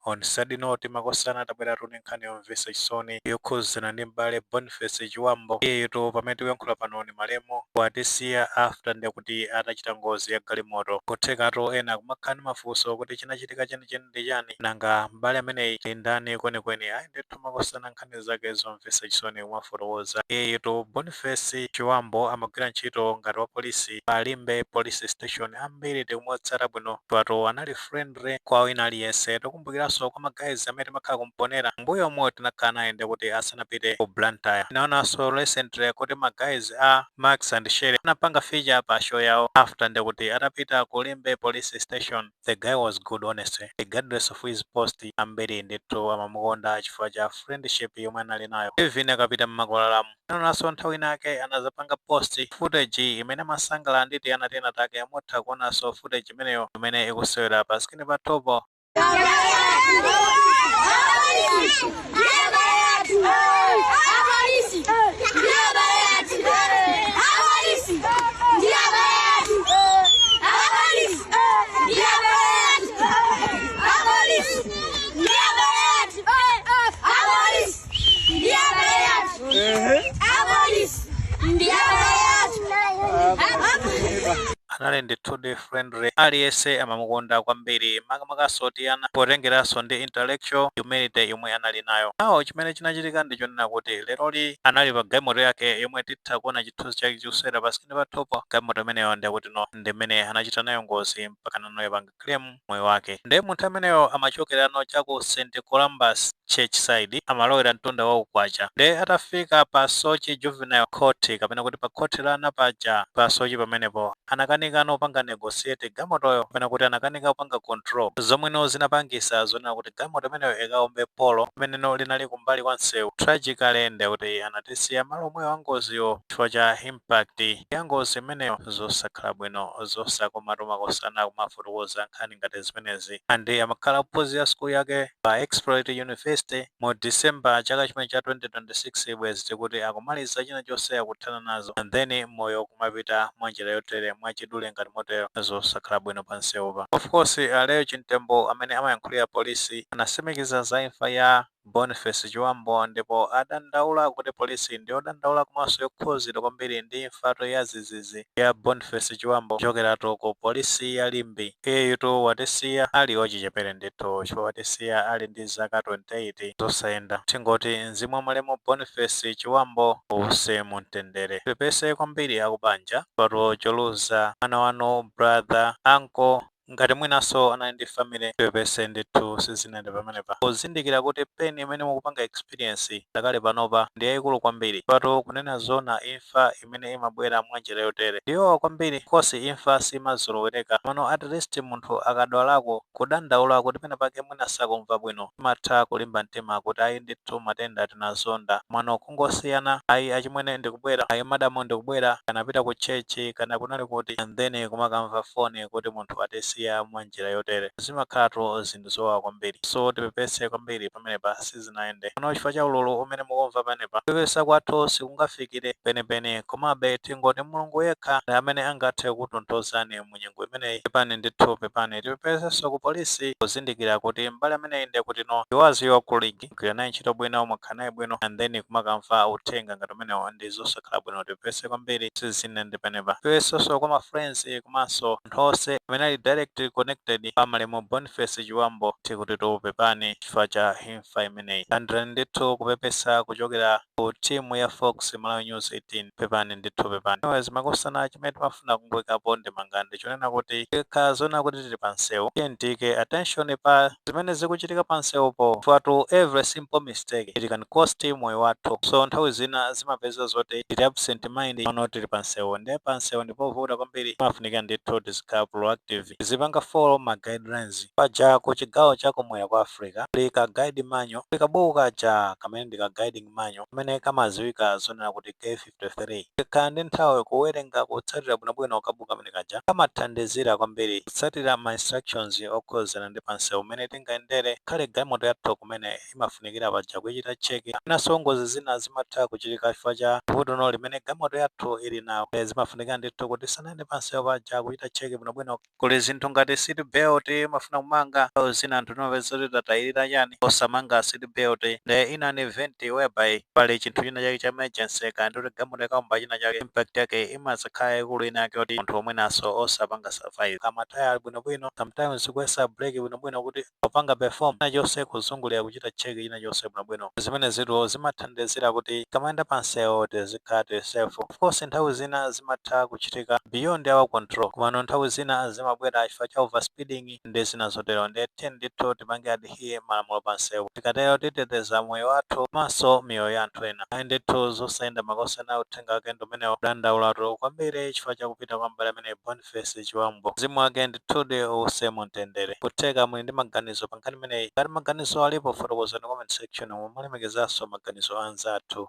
On a sad note makosana tabweratu ni nkhani yomvesa chisoni yokhuzana ndi m'bale Boniface Chiwambo iyeyotu pamene tikuyankhula pano ni malemu watisiya after nde kuti atachita ngozi ya galimoto kuthekatu ena kumakhala ndi mafunso kuti chinachitika chenicheni ndi chani nanga m'bale ameneyi ndi ndani kwenikweni ayi ndithu makosana nkhani zake zomvesa chisoni kumafotokoza iyeyotu Boniface Chiwambo amagwira ntchito ngati wapolisi pa Limbe police station ambiri tikumutsata bwino chifukwatu anali friend kwa wina aliyense tikumbukiranso kwa ma guys amene timakhala ku Mponela m'mbuyomu tinakhala naye nde kuti asanapite ku Blantyre tinaonanso recently kuti ma guys a Max and Shelly anapanga feature pa show yawo after nde kuti atapita ku Limbe police station the guy was good honestly regardless of his post ambiri ndithu amamukonda chifukwa cha friendship yomwe anali nayo even akapita mmakwalalamu Tinaonanso nthawi inake anazapanga post footage imene amasangalala ndi tiana tinatake. Mutha kuonanso footage imeneyo imene ikusewera pa screen pathupo. anali ndithudi friendly aliyense amamukonda kwambiri makamakanso tiana potengeranso ndi intellectual humility yomwe anali nayo awo chimene chinachitika ndi chonena kuti leroli anali pa galimoto yake yomwe titha kuona chithunzi chake chikusewera pa screen pathupo galimoto imeneyo ndi yakuti no ndi imene anachita nayo ngozi mpaka nanoyo kupanga claim moyo wake nde munthu ameneyo amachokerano cha ku st columbus church side amalowera mtunda wa ku Kwacha nde atafika pa Soche juvenile court kapena kuti pa khoti la ana paja pa Soche pamenepo anakanikano kupanga negotiate galimotoyo kapena kuti anakanika kupanga control zomweno zinapangisa zonena kuti galimoto imeneyo ikaombe polo limeneno linali kumbali kwa msewu tragically ndekuti anatisiya malo omwewo angoziwo chifukwa cha imp pact ya ngozi imeneyo zosakhala bwino zosakomatu makosana kumafotokoza nkhani ngati zimenezi and amakhala akuphunzira school yake pa Exploits University mu December chaka chimene cha 2026 bwezi tikuti akumaliza china chonse akuthana nazo and then moyo kumapita mwanjira yotere mwachidule ngati motero zosakhala bwino panseupa. Of course a Leo Chimtembo amene amayankhulira police anasimikiza za imfa ya. Boniface Chiwambo ndipo adandaula kuti polisi ndiyodandaula komanso yokhuzidwa kwambiri ndi imfatu yazizizi ya Boniface Chiwambo kuchokeratu ku polisi ya Limbe. Iyeyutu watisiya ali wachichepere ndithu chifukwa watisiya ali ndi zaka 28 zosayenda. Tingoti mzimu wa malemu Boniface Chiwambo uwuse mu mtendere. Tipepese kwambiri akubanja chifukwa choluza mwana wanu, brother, uncle. ngati mwinanso anali ndi family pepese ndithu sizinayende pamenepa kuzindikira kuti pain imene mukupanga experience pakali panopa ndi yaikulu kwambiri patu kunena zoona imfa imene imabwera mwanjira yotere ndiyowawa kwambiri cause imfa siimazolowereka komano at least munthu akadwalako kudandaula kuti penapake mwina sakumva bwino timatha kulimba mtima kuti ayi ndithu matenda tinazonda komano kungosiyana ayi achimwene ndikubwera ayi madam ndikubwera kaya anapita ku church kaya kunali kuti and then kumakamva phone kuti munthu atisiya mwa njira yotere zimakhalatu zinthu zowawa kwambiri so tipepese kwambiri pamenepa sizinayende bwino chifukwa cha ululu umene mukumva pamenepa kupepesa kwathu sikungafikire penipeni komabe tingoti Mulungu yekha ndi amene angathe kukutonthozani mu. mu nyengo imeneyi pepani ndithu pepani tipepesenso ku polisi kuzindikira kuti m'bale ameneyi ndiye kuti no he was your colleague gwira naye ntchito bwino mwakhala naye bwino and then kumakamva uthenga ngati umenewo ndi zosakhala bwino tipepese kwambiri sizinayende penepa tipepesenso kwa ma friends komanso anthu onse amene ali direct connected pa malemu boniface chiwambo tikutitu pepani chifukwa cha imfa imeneyi landirani ndithu kupepesa kuchokera ku team ya fox malawi news 18 pepani ndithu pepani anyways makosana chimene timafuna kumangika ndemanga ndi chonena kuti tikakhala zona kuti tili pa msewu tiyeni tiyike attention pa zimene zikuchitika pa msewupo patu every simple mistake it can cost moyo wathu so nthawi zina zimapeza zoti tili absent mind pano tili pa msewu nde pa msewu ndipovuta kwambiri imafunika ndithu tizikhala proactive tizipanga follow ma guidelines paja ku chigawo cha kumwera kwa Africa pali ka guide manual kuli kabuku kaja kamene ndi ka guiding manual kamene kamaziwika zonena kuti K53. Tikakhala ndi nthawi kuwerenga kutsatira bwinobwino kabuku kamene kaja kamathandizira kwambiri kutsatira ma instructions okhuzana ndi pa msewu mene tingayendere ngakhale galimoto yathu kumene imafunikira paja kuichita check kapenanso ngozi zina zimatha kuchitika chifukwa cha vutono limene galimoto yathu ili nalo nde zimafunika ndithu kuti tisanayende pa msewu paja kuchita check bwinobwino kuli zinthu ngati seat belt imafuna kumanga nthawi zina anthu timapeza kuti tatayirira chani osamanga seat belt nde in an event whereby pali chinthu china chake cha emergency kaya ndikuti galimoto ikaomba china chake impact yake imazakhala yaikulu ina yake kuti munthu mwinaso osapanga survive ma tayala ali bwinobwino sometimes kuyesa brake bwinobwino kuti akupanga perform china chonse kuzungulira kuchita check china chonse bwino bwino zimenezitu zimathandizira kuti tikamayenda pa nsewu tizikhala tili safe of course nthawi zina zimatha kuchitika beyond our control komano nthawi zina zimabwera chifukwa cha over speeding ndi zina zotero nde tiyeni ndithu tipange adhere malamulo pa nsewu tikatero titeteza moyo wathu komanso miyoyo ya anthu ena ayi ndithu zosayenda makosana uthenga wake ndi umenewo kudandaulatu kwambiri chifukwa cha kupita kwa m'bale ameneyu Bon Boniface Chiwambo mzimu wake ndithudi uuse mu mtendere. Nkutheka muli ndi maganizo pa nkhani imeneyi? Ngati maganizowo alipo fotokozani mu comment section mu mulemekezanso maganizo a anzathu.